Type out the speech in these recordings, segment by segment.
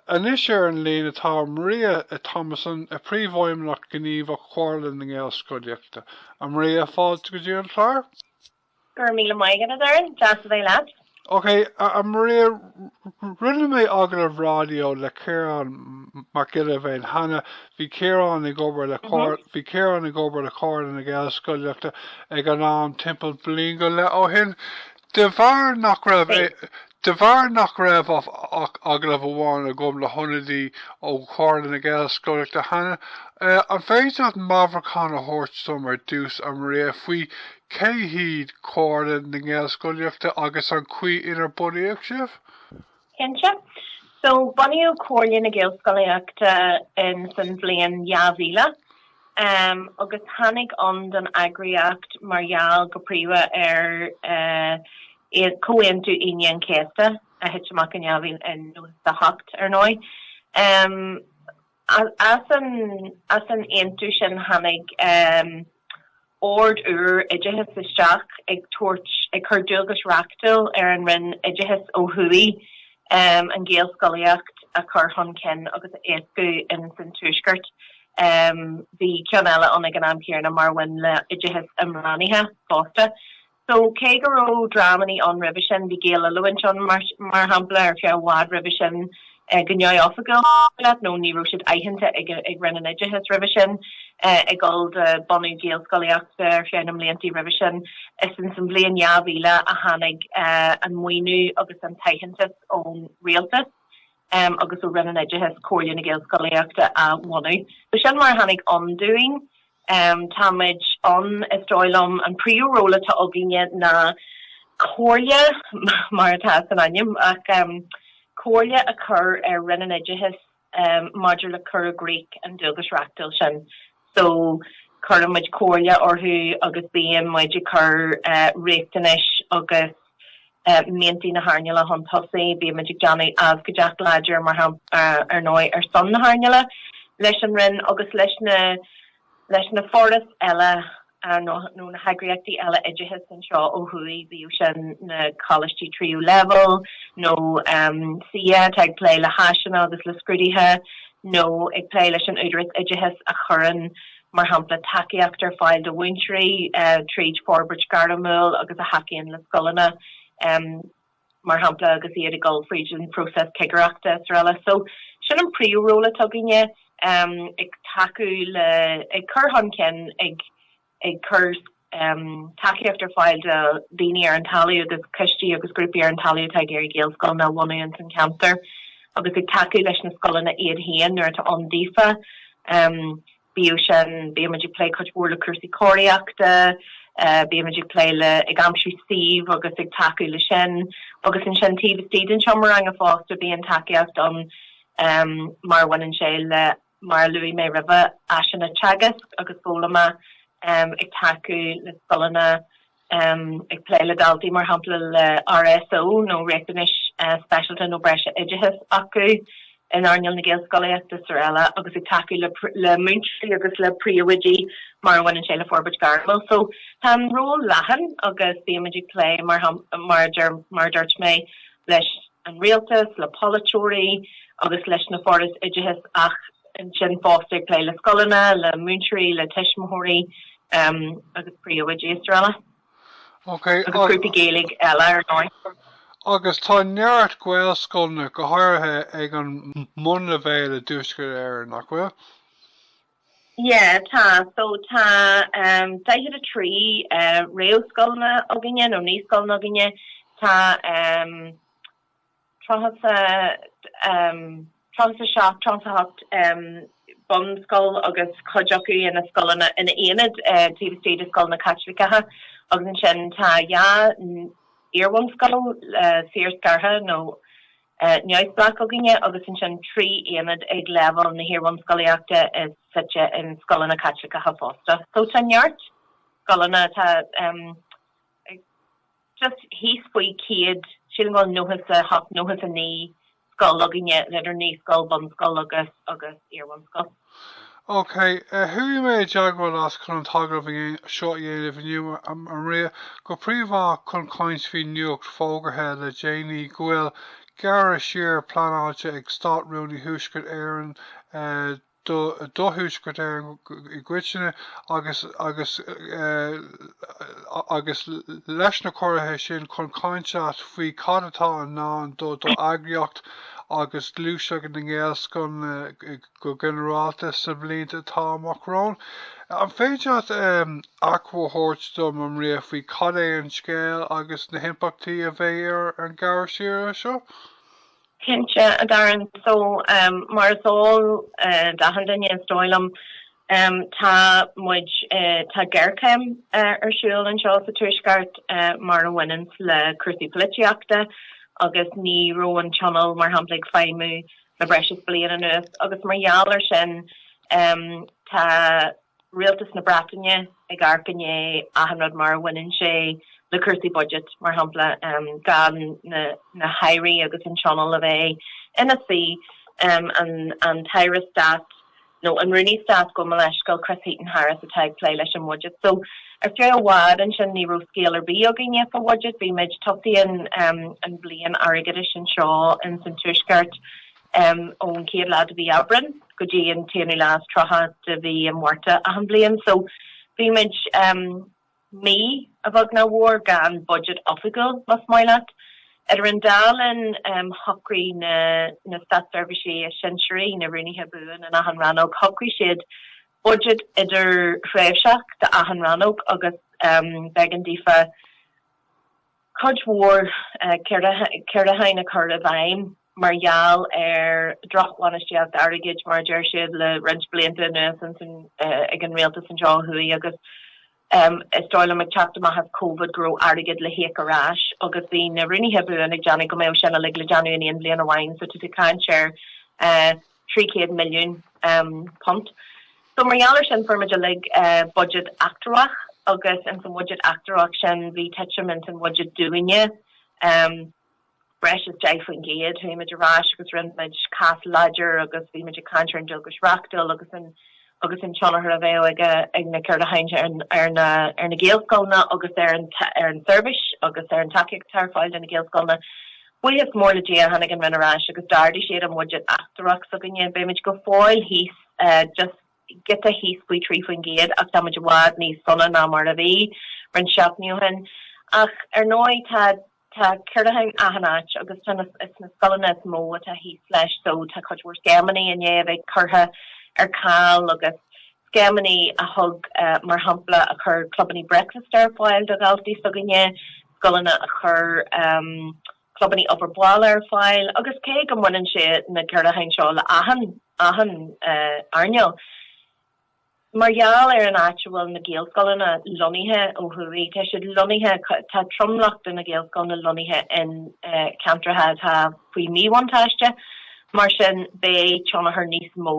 Anois ar an líne atá Maria Thomasson, Príomhfheidhmeannach Gníomhach Chomhairle na Gaelscolaíochta. A Maria, fáilte go dtí an clár. Go raibh míle maith agat, a Doireann. Deas a bheith leat. Ok, a Maria, rinne mé agallamh ráidió le Ciarán Mac Giolla Bhéin cheana. Bhí Ciarán ag obair le Bhí Ciarán ag obair le Comhairle na Gaelscolaíochta ag an am, timpeall bliain go leith ó shin. De bharr nach raibh De bharr nach raibh ach agallamh amháin agam le hionadaí ó Chomhairle na Gaelscolaíochta cheana, an féidir leat meabhrúchán a thabhairt dom ar dtús, a Maria, faoi cé hiad Comhairle na Gaelscolaíochta agus an chaoi inar bunaíodh sibh? Cinnte. So, bunaíodh Comhairle na Gaelscolaíochta in san bhliain 2000 agus tháinig ann don eagraíocht mar gheall go príomha ar Comhaontú Aoine an Chéasta, a thit amach in 1998, ar ndóigh, as an aontú sin tháinig Ord úr Oideachais isteach ag tabhairt, ag cur dualgais reachtúil ar an Roinn Oideachais ó thuaidh an Ghaelscolaíocht a chur chun cinn agus a éascú ins an Tuaisceart. Bhí ceann eile ann ag an am céanna mar a bhain le hOideachas Imeasctha fosta. So, cé go raibh dreamannaí ann roimhe sin, bhí Gaeloiliúint ann, mar shampla, ar feadh i bhfad roimhe sin go neamhoifigiúil leat nó ní raibh siad aitheanta ag Roinn an Oideachais roimhe sin ag dul do bunú Gaelscolaíochta ar feadh na mbliantaí roimhe sin. Is ins an bhliain 2000 a tháinig an maoiniú agus an t-aitheantas ón Rialtas agus ó Roinn an Oideachais Comhairle na Gaelscolaíochta a bhunú. So sin mar a tháinig ann dúinn. Um, táimid ann, is dóigh liom, an príomh ról atá againne ná comhairle, mar atá san ainm, ach um comhairle a chur ar Roinn an Oideachais um maidir le cur i gcrích an dualgais reachtúil sin. So, cuirimid comhairle orthu agus bíonn muid ag cur eh riachtanais agus. miantaí na hearnála chun tosaigh, bímid ag déanamh abhcóideacht láidir, mar shampla, ar ndóigh, ar son na hearnála, leis an Roinn agus leis na leis na forais eile nó na heagraíochtaí eile oideachais anseo ó thuaidh, bíodh sin na coláistí tríú leibhéal nó CCEA atá ag plé le háiseanna agus le scrúduithe nó ag plé leis an Údarás Oideachais a chuireann mar shampla tacaíocht ar fáil do mhúinteoirí fríd forbairt ghairmiúil agus a thacaíonn le scoileanna mar shampla agus iad ag dul fríd an phróiseas cigireachta srl. So sin an príomh ról atá againne, ag tacú le, ag cur chun cinn, ag cur. tacaíocht ar fáil do dhaoine ar an talamh agus coistí agus grúpaí ar an talamh atá ag iarraidh Gaelscoileanna a bhunú ins an cheantar agus ag tacú leis na scoileanna iad féin nuair atá siad ann daofa. Bíodh sin, bímid ag plé cuid mhór le cúrsaí cóiríochta, bímid ag plé le, ag aimsiú suímh agus ag tacú leis sin agus ansin taobh istigh den seomra ranga fosta bíonn tacaíocht ann mar a bhaineann sé le, Mar a luaigh mé roimhe, áiseanna teagaisc agus foghlama, ag tacú le scoileanna, ag plé le daltaí mar shampla le RSO nó riachtanais speisialta nó breise oideachais acu in earnáil na Gaelscolaíochta srl. agus ag tacú le múinteoirí agus le príomhoidí mar a bhaineann sé le forbairt gairmiúil. So tá an ról leathan agus bímid ag plé mar a dúirt mé leis an Rialtas, le polaiteoirí agus leis na forais oideachais ach ansin fosta ag plé le scoileanna, le múinteoirí, le tuismitheoirí agus príomhoidí is araile. Okay, agus grúpaí Gaeilge eile ar ndóigh. Agus tá neart Gaelscoileanna, go háirithe ag an mbunleibhéal i dTuaisceart Éireann, nach bhfuil? Yeah, tá. So, tá 43 réamhscoileanna againne, nó naíscoileanna againne. Tá 37, 38 bunscoil agus cuid acu ina scoileanna, ina n-aonaid taobh istigh de scoileanna Caitliceacha. Agus ansin tá dhá iarbhunscoil saorscartha nó. neamhspleách againne agus ansin trí aonad ag leibhéal na hiarbhunscolaíochta is suite i scoileanna Caitliceacha fosta. So tá neart scoileanna, tá just thíos faoi céad, sílim go bhfuil nócha a hocht, nócha a naoi scoil againne idir naíscoil, bunscoil agus agus iarbhunscoil. OK, chuaigh mé i dteagmháil leat chun an t-agallamh seo a dhéanamh inniu a Maria, go príomha chun caint faoi nuacht fógartha le déanaí go bhfuil gearradh siar pleanáilte ag Stát-Rúnaí Thuaisceart Éireann do Thuaisceart Éireann i gcoitinne agus agus agus leis na ciorruithe sin chun caint leat faoi cad atá i ndán do d'eagraíocht agus gluaiseacht na nGaelscoileanna Go ginearálta, sa bhliain atá amach romhainn, an féidir leat achoimre a thabhairt dom a Maria faoi cad é an scéal agus na himpleachtaí a bheidh ar an ngearradh siar seo? Cinnte, a Darren. So, mar is eol d'achan duine, is dóigh liom, tá muid, tá géarchéim ar siúl anseo sa Tuaisceart mar a bhaineann sé le cúrsaí polaitíochta agus ní raibh an Tionól, mar shampla, ag feidhmiú le breis is bliain anuas agus mar gheall ar sin tá Rialtas na Breataine ag amharc i ndiaidh achan rud mar a bhaineann sé le cúrsaí budget, mar shampla, gan na hAirí agus an Tionól a bheith ina suí, an tAire Stáit nó an Rúnaí Stáit gabh mo leithscéal Chris Heaton-Harris atá ag plé leis an bhudget. So, ar feadh i bhfad ansin ní raibh scéal ar bith againne fá bhudget, bhí muid, tosaíonn an bliain airgeadais anseo ins an Tuaisceart ón chéad lá de mhí Aibreán go dtí an t-aonú lá is tríocha de mhí an Mhárta achan bhliain. So, bhí muid. Mí, a bheag nó a mhór, gan budget oifigiúil, más maith leat. Idir an dá linn, shocraigh na, na státseirbhísigh is sinsearaí, na Rúnaithe Buan in achan rannóg, shocraigh siad budget idirthréimhseach d'achan rannóg agus b'éigean daofa, cuid mhór ciorrúcháin a chur i bhfeidhm mar gheall ar dhrochbhainistíocht airgid mar a deir siad le roinnt blianta anuas ag an Rialtas anseo ó thuaidh agus is dóigh liom ag teacht amach as Covid go raibh airgead le híoc ar ais agus bhí na Rúnaithe Buan ag déanamh go mbeadh sin uilig le déanamh in aon bhliain amháin so tá tú ag caint ar 300 milliún punt. So mar gheall ar sin fuair muid uilig budget eatramhach agus ins an bhudget eatramhach sin bhí tuitim ins an bhudget dúinne breis is 10 faoin gcéad. Chuaigh muid ar ais agus rinne muid cás láidir agus bhí muid ag caint ar an dualgas reachtúil agus an agus an tionchar a bheadh ag ag na ciorrúcháin ar na ar na Gaelscoileanna agus ar an ar an seirbhís agus ar an tacaíocht atá ar fáil do na Gaelscoileanna Buíochas mór le Dia, tháinig an Roinn ar ais agus d'ardaigh siad an budget eatramhach s'againne. Beidh muid go fóill thíos, just giota thíos faoi trí faoin gcéad, ach tá muid i bhfad níos sona ná mar a bhí roinnt seachtainí ó shin. Ach ar ndóigh, tá tá ciorrúcháin achan áit agus tá is na scoileanna is mó atá thíos leis so tá cuid mhór scéimeanna i ndiaidh a bheith curtha ar ceal agus scéimeanna a thug, mar shampla, a chuir clubanna breakfast ar fáil do dhaltaí s'againne, scoileanna a chuir clubanna obair bhaile ar fáil, agus cé go mbaineann sé na ciorrúcháin seo le achan, achan earnáil. Mar gheall ar an áit a bhfuil na Gaelscoileanna lonnaithe ó thuaidh, tá siad lonnaithe, tá tromlach de na Gaelscoileanna lonnaithe in ceantracha atá faoi mhíbhuntáiste, mar sin beidh tionchar níos mó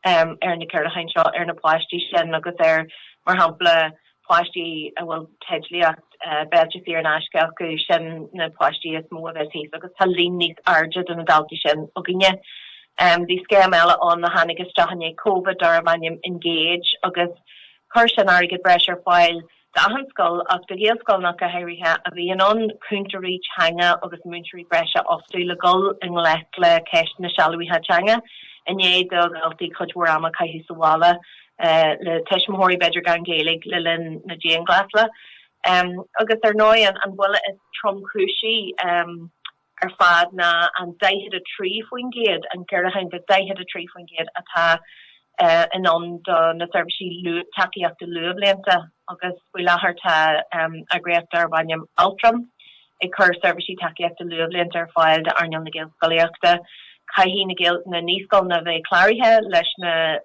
um, ar na ciorrúcháin seo ar na páistí sin agus ar, mar shampla, páistí a bhfuil teidlíocht, eh, béilte saor in aisce acu, sin na páistí is mó a bheas thíos agus tá líon níos airde de na daltaí sin againne. Um, bhí scéim eile ann a tháinig isteach i ndiaidh Covid darbh ainm Engage agus chuir sin airgead breise ar fáil do d'achan scoil ach do Ghaelscoileanna go háirithe a bhí in ann cúntóirí teanga agus múinteoirí breise a fhostú le dhul i ngleic le ceist an tsealbhaithe teanga. I ndiaidh do dhaltaí cuid mhór ama a chaitheamh sa bhaile le tuismitheoirí, b'fhéidir gan Gaeilge, le linn na dianghlasála. Agus ar ndóigh an buille is tromchúisí. ar fad ná an 43%, an gearradh de 43%, atá in ann do na seirbhísí tacaíochta luathbhlianta agus faoi láthair tá eagraíocht darb ainm Altram ag cur seirbhísí tacaíochta luathbhlianta ar fáil d'earnáil na Gaelscolaíochta. Caithfidh na naíscoileanna a bheith cláraithe leis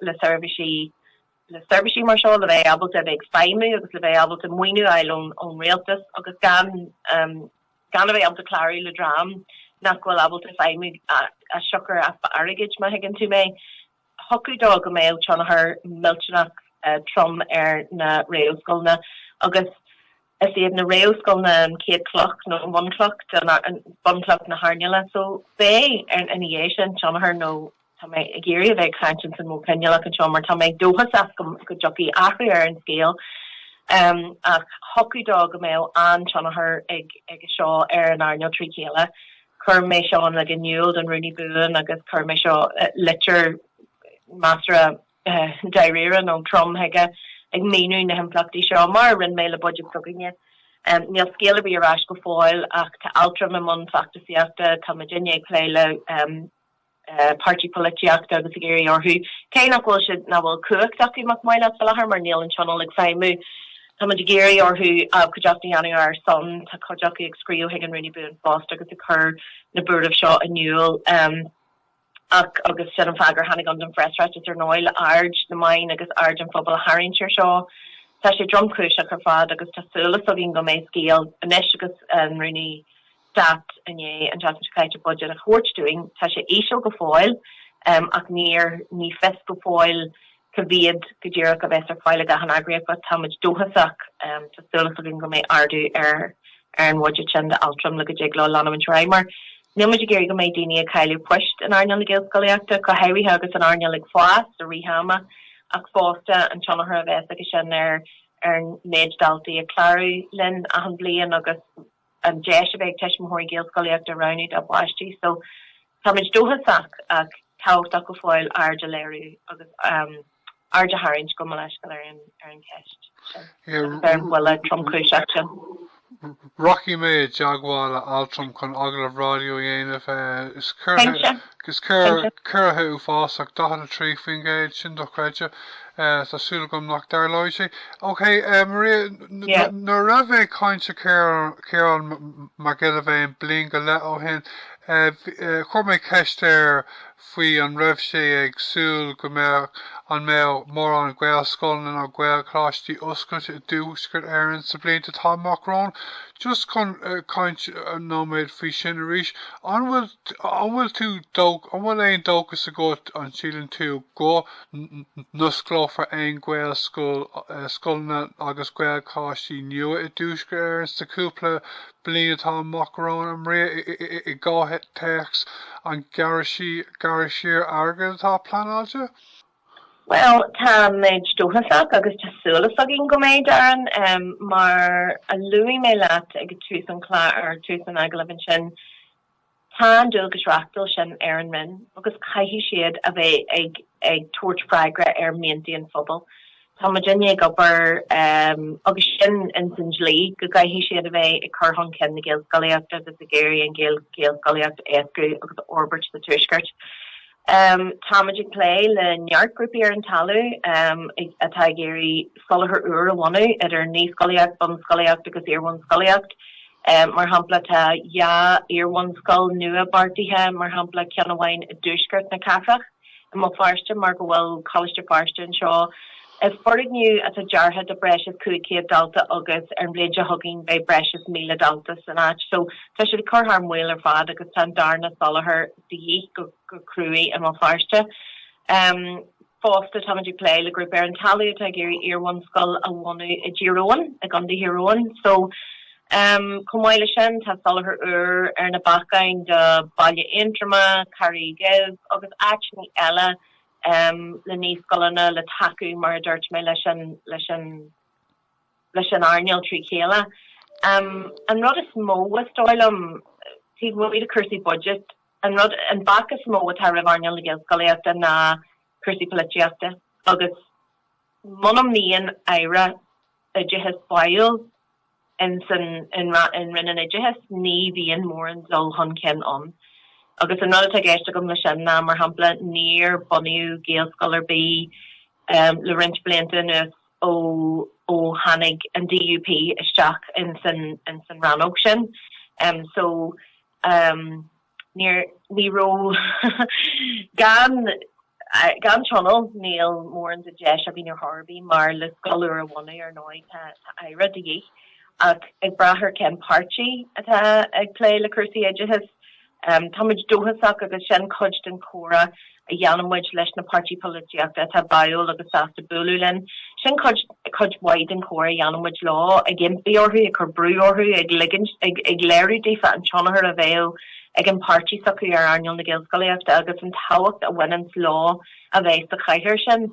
le seirbhísí le seirbhísí mar seo le bheith ábalta a bheith ag feidhmiú agus le bheith ábalta maoiniú a fháil ón Rialtas agus gan gan iad a bheith ábalta clárú le dream nach bhfuil ábalta feidhmiú as siocair easpa airgid, má thuigeann tú mé. Thiocfadh dó go mbeadh tionchar millteanach trom ar na réamhscoileanna agus is iad na réamhscoileanna an chéad chloch nó an bhunchloch, bhunchloch na hearnála, so beidh ar ina dhiaidh sin tionchar nó. Tá mé ag iarraidh a bheith ag caint ins an modh coinníollach anseo mar tá mé dóchasach go dtiocfaidh athrú ar an scéal. Ach thiocfadh dó go mbeadh an-tionchar ag seo ar an earnáil trí chéile. Chuir mé seo uilig in iúl don Rúnaí Buan agus chuir mé seo, litir, measartha dáiríre nó trom chuige ag míniú na himpleachtaí seo, mar a rinne mé le budget s'againne. Níl scéal ar bith ar ais go fóill ach tá Altram i mbun feachtasaíochta, táimid i ndiaidh plé le. páirtithe polaitíochta agus ag iarraidh orthu, cé nach bhfuil siad nach bhfuil cumhacht acu, mar a bheadh, fá láthair mar níl an Tionól ag feidhmiú, táimid ag iarraidh orthu abhcóideacht a dhéanamh ar ár son. Tá cuid acu ag scríobh chuig an Rúnaí Buan fosta agus ag cur na buartha seo in iúl. Ach, agus sin an fáth gur tháinig ann don phreasráiteas ar ndóigh, le aird na meán agus aird an phobail a tharraingt ar seo. Tá sé tromchúiseach ar fad agus tá súil as againn go mbeidh scéal anois agus an Rúnaí Stát i ndiaidh an saghas budget a thabhairt dúinn. Tá sé íseal go fóill ach níor ní fios go fóill cá mhéad go díreach a bheas ar fáil ag achan eagraíocht but táimid dóchasach, tá súil as againn go mbeidh ardú ar an budget sin do Altram le go dtig leo leanamhaint ar aghaidh mar nílmid ag iarraidh go mbeidh daoine ag cailleadh post in earnáil na Gaelscolaíochta go háirithe agus an earnáil ag fás i rith ama ach fosta an tionchar a bheas ag sin ar an méid daltaí ag clárú linn achan bhliain agus an deis a bheith ag tuismitheoirí Gaelscolaíocht a roghnú dá bpáistí so táimid dóchasach ach tábhachtach go fóill aird a léiriú agus aird a tharraingt gabh mo leithscéal ar an cheist ar an bhuille tromchúiseach sin. Rachaidh mé i dteagmháil le Altram chun agallamh raidió a dhéanamh. Is ciorruithe uafásach, 43%, sin dochreidte. tá súil agam nach dtarlóidh sé. Ok, Maria, nuair a bhí mé ag caint le Ciarán Mac Giolla Bhéin bliain go leith ó shin, chuir mé ceist air faoi, an raibh sé ag súil go mbeadh, an mbeadh mórán Gaelscoileanna nó Gaelcholáistí oscailte i dTuaisceart Éireann sa bhliain atá amach romhainn? Just chun caint nóiméad faoi sin arís, an bhfuil tú, an bhfuil tú, an bhfuil aon dóchas agat, an síleann tú go, n-osclófar aon Ghaelscoil, scoileanna agus Gaelcholáistí nua i dTuaisceart Éireann sa chúpla bliain atá amach romhainn a Maria, i gcomhthéacs an ghearradh siar airgid atá pleanáilte. Bhuel, táimid dóchasach agus tá súil againn go mbeidh, Darren. Mar a luaigh mé leat ag tús an chláir, tús an agallaimh ansin, Tá an dualgas reachtúil sin ar an Roinn agus caithfidh siad a bheith ag ag tabhairt freagra ar mhianta an phobail. Táimidinne ag obair agus sin ins an dlí go gcaithfidh siad a bheith ag cur chun cinn na Gaelscolaíochta agus ag iarraidh an Ghaelscolaíocht a éascú agus a fhorbairt sa Tuaisceart. Táimid ag plé le neart grúpaí ar an talamh atá ag iarraidh soláthar úr a bhunú, idir naíscolaíocht, bunscolaíocht agus iarbhunscolaíocht. Mar shampla, tá dhá iarbhunscoil nua beartaithe, mar shampla, ceann amháin i dtuaisceart na cathrach, i mBéal Feirste, mar go bhfuil Coláiste Feirste anseo. Is foirgneamh atá deartha do breis is 500 dalta agus ar an bhliain seo chugainn beidh breis is 1,000 dalta san áit. So, tá siad ag cur thar maoil ar fad agus tá an darna soláthar de dhíth go cruaidh i mBéal Feirste. Fosta táimid ag plé le grúpa ar an talamh atá ag iarraidh iarbhunscoil a bhunú i dTír Eoghain, i gContae Thír Eoghain. So chomh maith le sin tá soláthar úr ar na bacáin do Bhaile Aontroma, Carraig Uibh agus áiteannaí eile le naíscoileanna le tacú mar a dúirt mé leis an leis an earnáil trí chéile. An rud is mó is dóigh liom, taobh amuigh de cúrsaí budget, an rud, an bac is mó atá roimh earnáil na Gaelscolaíochta ná cúrsaí polaitíochta agus muna mbíonn Aire Oideachais báúil ins an an Roinn an Oideachais ní bhíonn mórán dul chun cinn ann. Agus an rud atá i gceist agam le sin ná, mar shampla, níor bunaíodh Gaelscoil ar bith le roinnt blianta anuas. ó tháinig an DUP isteach ins an rannóg sin so ní raibh, gan tionól níl mórán de deis againn ar chor ar bith mar le scoil úr a bhunú ar ndóigh tá Aire de dhíth ach ag brath ar cén páirtí atá ag plé le cúrsaí oideachais Táimid dóchasach agus sin cuid den chomhrá a dhéanann muid leis na páirtí polaitíochta atá báúil agus sásta bualadh linn. Sin cuid, cuid mhaith den chomhrá a dhéanann muid leo, ag impí orthu, ag cur brú orthu, ag ligint, ag, ag léiriú daofa an tionchar a bheadh ag an bpáirtí s'acu ar earnáil na Gaelscolaíochta agus an tábhacht a bhaineanns leo a bheith sa chathaoir sin.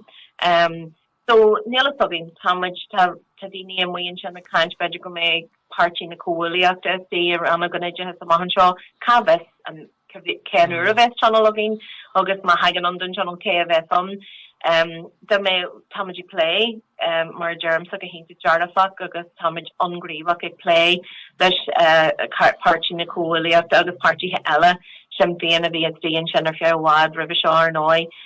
So, níl fhios againn. Tá muid, tá, tá daoine amuigh ansin ag caint, b'fhéidir go mbeidh Páirtí na Comhghuaillíochta ina suí i Rannóg an Oideachais amach anseo, cá bhfios an, cá, cén uair a bheas Tionól againn agus má thagann ann don Tionól cé a bheas ann. Em, dá mbeadh, tá muid ag plé, em, mar a deirimse go hiontach dearfach agus tá muid an-ghníomhach ag plé leis, eh, Páirtí na Comhghuaillíochta agus páirtithe eile. Sinn Féin a bhí istigh ansin ar feadh i bhfad roimhe seo, ar ndóigh,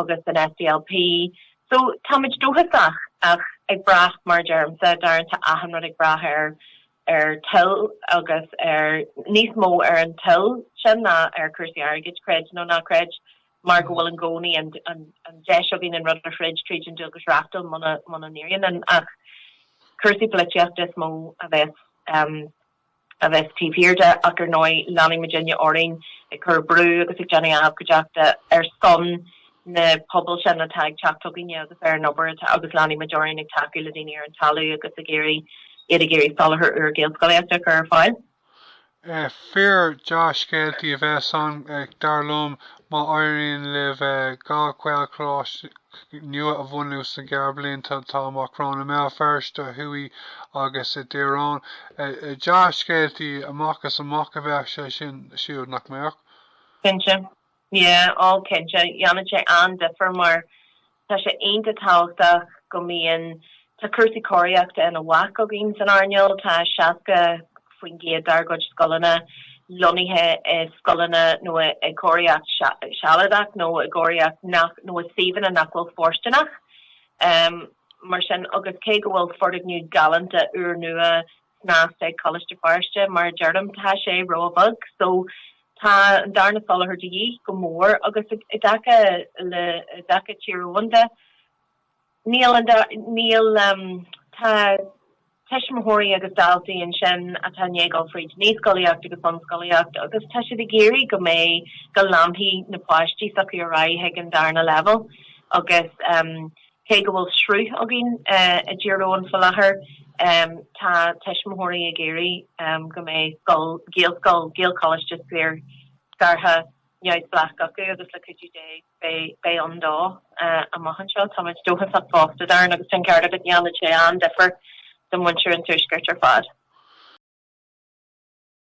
agus an SDLP. So, táimid dóchasach ach ag brath, mar a deirimse, Darren, tá achan rud ag brath ar, ar toil agus ar, níos mó ar an toil sin ná ar cúrsaí airgid, creid nó ná creid, mar go bhfuil i gcónaí an, an, an deis againn an rud a throid tríd an dualgas reachtúil muna, muna n-éiríonn linn ach cúrsaí polaitíochta is mó a bheas, a bheas taobh thiar de ach ar ndóigh leanfaimidinne orainn ag cur brú agus ag déanamh abhcóideachta ar son na pobail sin atá ag teacht chugainne agus ar an obair atá agus leanfaimid orainn ag tacú le daoine ar an talamh agus ag iarraidh iad ag iarraidh soláthar úr Gaelscolaíochta a chur ar fáil. Fíor-dhea-scéalta a bheas ansin dar liom má éiríonn libh dhá Ghaelcholáiste nua a bhunú sna gearrbhlianta atá amach romhainn, i mBéal Feirste thuaidh agus i dTír Eoghain. Dea-scéalta amach is amach a bheadh sé sin siúd, nach mbeadh? Cinnte. Yeah, oh cinnte. Dhéanfadh sé an-difir mar tá sé iontach tábhachtach go mbíonn Tá cúrsaí cóiríochta ina bhac againn san earnáil. Tá 60% dár gcuid scoileanna lonnaithe i scoileanna nó i gcóiríocht sealadach nó i gcóiríocht nach, nó i suíomhanna nach bhfuil fóirsteanach. Mar sin agus cé go bhfuil foirgneamh galánta úr nua snasta ag Coláiste Feirste, mar a deirim, tá sé ró-bheag. So tá an darna soláthar de dhíth, go mór. Agus i dtaca le, i dtaca Tír Eoghain de, Níl an, níl, tá tuismitheoirí agus daltaí ansin atá i ndiaidh a ghabháil fríd naíscolaíocht agus bunscolaíocht agus tá siad ag iarraidh go mbeidh, go leanfaidh na páistí s'acu ar aghaidh chuig an darna leibhéal agus cé go bhfuil sruth againn i dTír Eoghain faoi láthair tá tuismitheoirí ag iarraidh go mbeidh scoil, Gaelscoil, Gaelcholáiste saorscartha. neamhspleách acu agus le cuidiú Dé beidh ann dó amach anseo. Táimid dóchasach fosta, Darren, agus tá an ceart agat, dhéanfadh sé an-difear do mhuintir an Tuaiscirt ar fad.